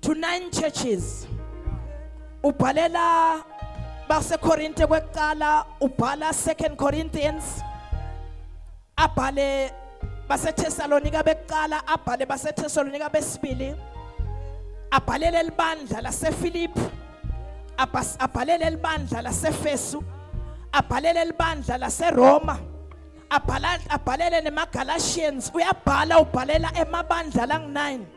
to nine churches ubhalela basekorinte kwekuqala ubhala second corinthians abhale baseThesalonika bekuqala abhale baseThesalonika besibili abhalele libandla laseFilippi abhalele libandla laseFesu abhalele libandla laseRoma abhalele nemaGalatians uyabhala ubhalela emabandla lang9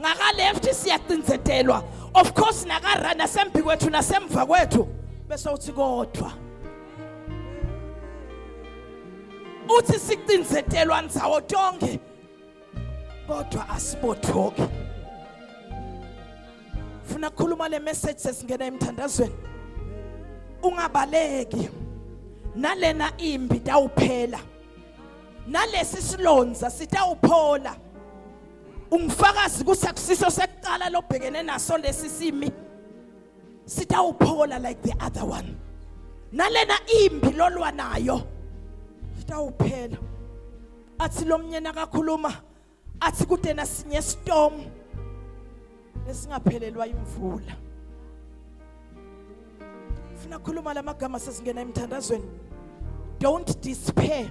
ngaka left siyacinzetelwa of course naka right nasembi kwethu nasemva kwethu bese uthi kodwa uthi sicinzetelwa nzawo tonke kodwa asibothoki funa kukhuluma le message sesingena emthandazweni ungabaleki nalena imbi tawuphela nalesi silonza sitawuphola ungifakazi kusakusiso sekuqala lobhekene naso lesi simi sitawuphola like the other one nalena imbi lolwa nayo sitawuphela athi lomnyena kakhuluma athi kude nasinye storm esingaphelelwa imvula funa khuluma lamagama sesingena emthandazweni don't despair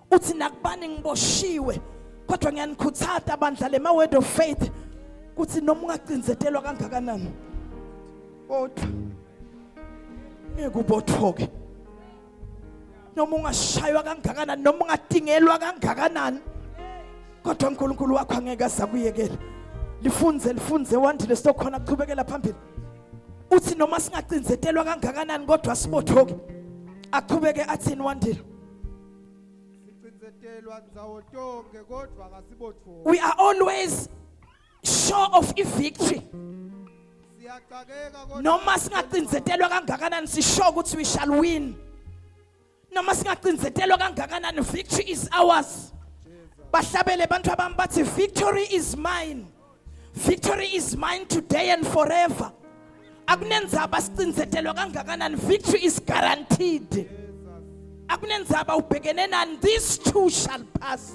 uthi nakubani ngiboshiwe kodwa ngiyanikhuthata bandla le ma word of faith kuthi noma ungacinzetelwa kangakanani kodwa ngeke ubothoke noma ungashaywa kangakanani noma ungatingelwa kangakanani kodwa uNkulunkulu wakho angeke asakuyekela lifunze lifunze wandile sokhona kuchubekela phambili uthi noma singacinzetelwa kangakanani kodwa sibothoke aqhubeke athini wandile We are always sure of a victory. Noma singacinzetelwa kangakanani sisho ukuthi we shall win. Noma singacinzetelwa kangakanani victory is ours. Bahlabele abantu abami bathi victory is mine. victory is mine today and forever akunenzaba sicinzetelwa kangakanani victory is guaranteed akunenzaba ubhekene nani these two shall pass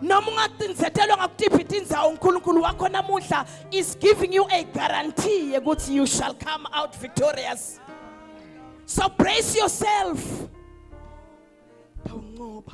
noma ungacinzetelwa ngakutiphi inzawo uNkulunkulu wakho namuhla is giving you a guarantee ukuthi you shall come out victorious so brace yourself tawunqoba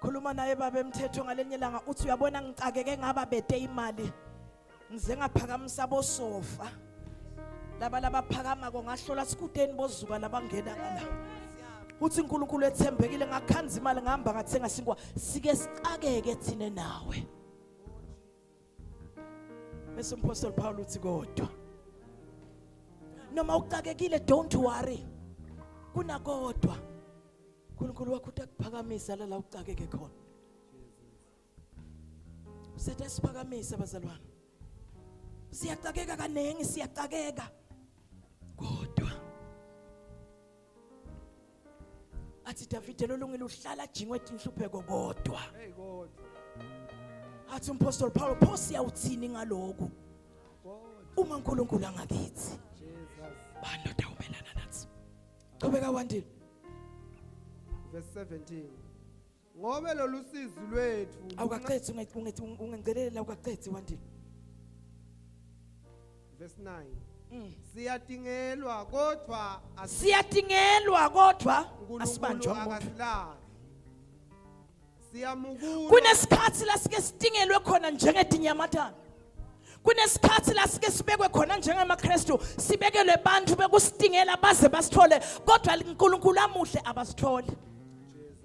khuluma naye baba emthetho ngalenye langa uthi uyabona ngicakeke ngaba bede imali ngize ngaphakamisa bosofa laba labaphakama ko ngahlola sikudeni bozuka labangena ngala uthi uNkulunkulu ethembekile ngakhanza imali ngihamba ngathenga sinkwa sike sicakeke thina nawe bese umpostoli Paul uthi kodwa noma uxakekile don't worry kunakodwa uNkulunkulu wakho utakuphakamisa la la uxakeke khona usethe siphakamisa bazalwane siyaxakeka kaningi siyaxakeka athi Davide lolungile uhlala ajingwe inhlupheko kodwa hey kodwa athi umpostoli Paulo pho siyawuthini ngaloku uma uNkulunkulu angakithi bani lodawumelana nathi qhubeka wandile verse 17 ngobe lolu sizi lwethu awukaqethi ungencelela awukaqethi wandile verse 9 mm. siyadingelwa kodwa siyadingelwa kodwa asibanjwa umuntu siyamukula kunesikhathi la sike sidingelwe khona njengedinyamatana kunesikhathi la sike sibekwe khona njengamaKristu sibekelwe abantu bekusidingela baze basithole kodwa uNkulunkulu amuhle abasithole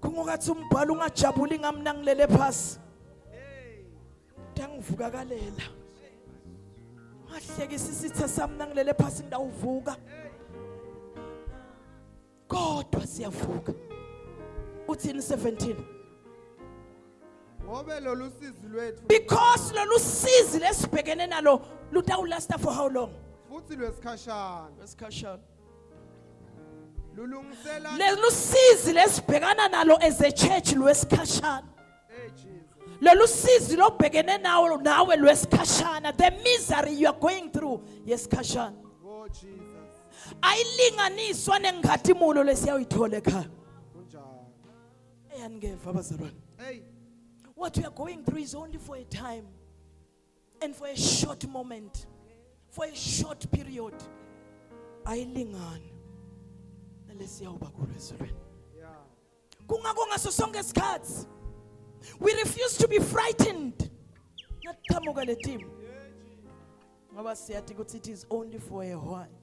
kungokathi umbhalo ungajabuli ngami nangilele phasi ngangivukakalela ngahlekisa isitha sami nangilele phasi ngidawuvuka kodwa siyavuka uthini 17 ngobe lolu sizi lwethu because lolu sizi lesibhekene nalo lutawulasta for how long futhi lwesikhashana lwesikhashana lolu sizi lesibhekana nalo as a church lwesikhashana lolu sizi lobhekene nawo nawe lwesikhashana the misery you are going through yesikhashana oh, ayilinganiswa nengathimolo lesiyawuyithola ekhaya eyaningeva abazalwane what you are going through is only for a time and for a short moment for a short period ayilingani nalesiyawuba kulo ezulwini kungakho ngaso sonke isikhathi we refuse to be frightened ngathamuka le team ngoba siyathi ukuthi it is only for a while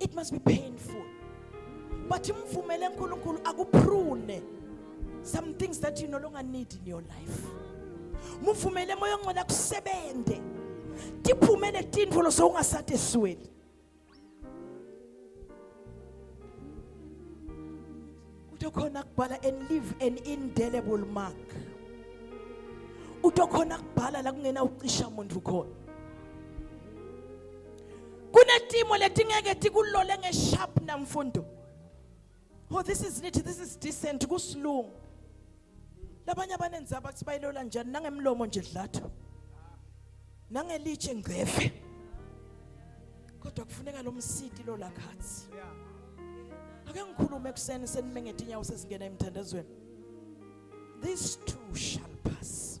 it must be painful but imvumele uNkulunkulu akuprune some things that you no longer need in your life muvumele moya ongcwele akusebenze tiphume letintfo losewungasati esweni uthi khona kubhala and leave an indelible mark uthi khona kubhala la kungena ucisha muntu khona kunetimo letingeke tikulole ngesharp namfundo oh this is neat this is decent kusilungu labanye abanenzaba bathi bayilola njani nangemlomo nje dlathu nangelitshe ngcefe kodwa kufuneka lo msidi lo la khathi ake ngikhulume ekuseni senimengete inyawo sesingena emthandazweni these two shall pass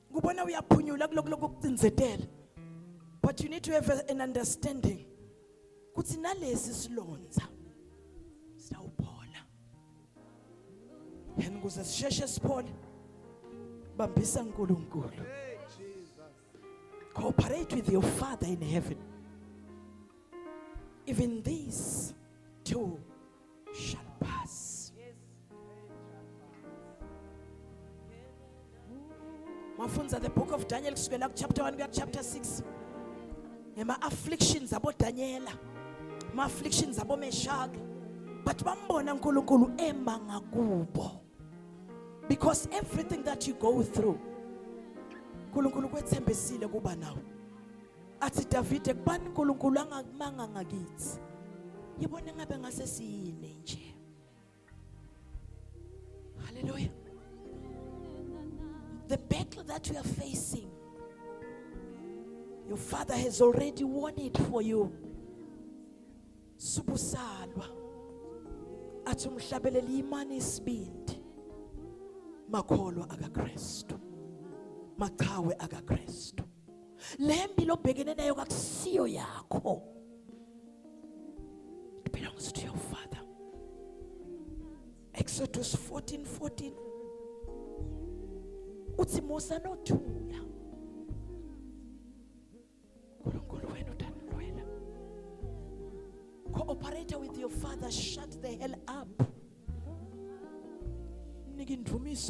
ngubona uyaphunyula kulokuloko kucinzetela but you need to have an understanding kuthi nalesi silonza sawuphola and kuze sisheshe siphole bambisa uNkulunkulu cooperate with your father in heaven even these two shall pass. Mafunza the book of Daniel kusukela ku chapter 1 kuya chapter 6. Ngema afflictions abo Daniela. Ma afflictions abo Meshach. But bambona uNkulunkulu ema ngakubo. Because everything that you go through uNkulunkulu kwethembisile kuba nawe. athi Davide kubani uNkulunkulu angakumanga ngakithi yibona ngabe ngase siyini nje haleluya the battle that we are facing your father has already won it for you subusalwa athi umhlabelele imani isibindi makholwa akaKristu machawe akaKristu le mpilo obhekene nayo kakusiyo yakho it belongs to your father exodus 14 14 uthi musa nothula nkulunkulu wena utanilwela cooperator with your father shut the hell up nike indumiso